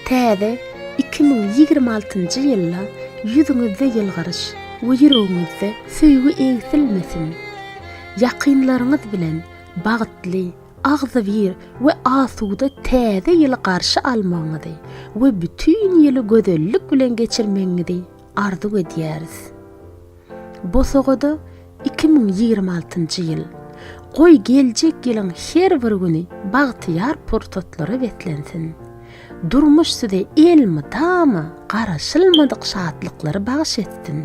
Täze iki müň ýigrimi altynjy ýylda ýüzüňizde ýylgyryş we ýüregiňizde söýgi egsilmesin! Ýakynlaryňyz bilen bagtly, agzybir we asuda Täze ýyly garşy almagyňyzy we bütin ýyly gözellik bilen geçirmegiňizi arzuw edýäris. Bosagada iki müň ýigrimi altynjy ýyl. Goý geljek ýylyň her bir güni bagtyýar pursatlara beslensin. Durmuş size elmydama garaşylmadyk şatlyklary bagyş etsin.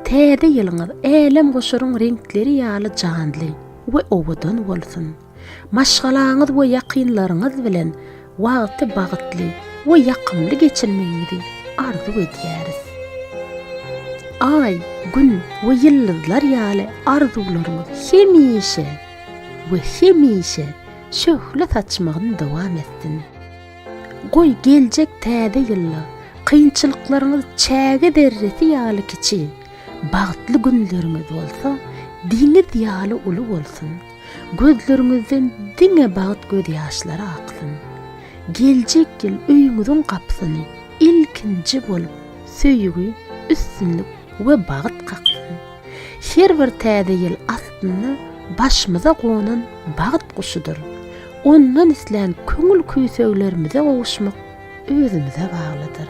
Täze ýylyňyz älemgoşaryň reňkleri ýaly janly we owadan bolsun. Maşgalaňyz we ýakynlaryňyz bilen wagty bagtly we ýakymly geçirmegiňizi arzuw edýäris. Aý, Gün we ýyldyzlar ýaly arzuwlaryňyz hemişe we hemişe şöhle saçmagyny dowam etsin. Goý, geljek Täze ýylda kynçylyklaryňyz çäge zerresi ýaly kiçi, bagtly günleriňiz bolsa deňiz ýaly uly bolsun! Gözleriňizden diňe bagt gözýaşlary aksyn. Geljek ýyl öýüňiziň gapysyny ilkinji bolup söýgi, üstünlik we bagt kaksyn. Her bir täze ýyl aslynda başymyza gonan bagt guşudyr. Ondan islän köňül küýseglerimize gowuşmak özümize baglydyr.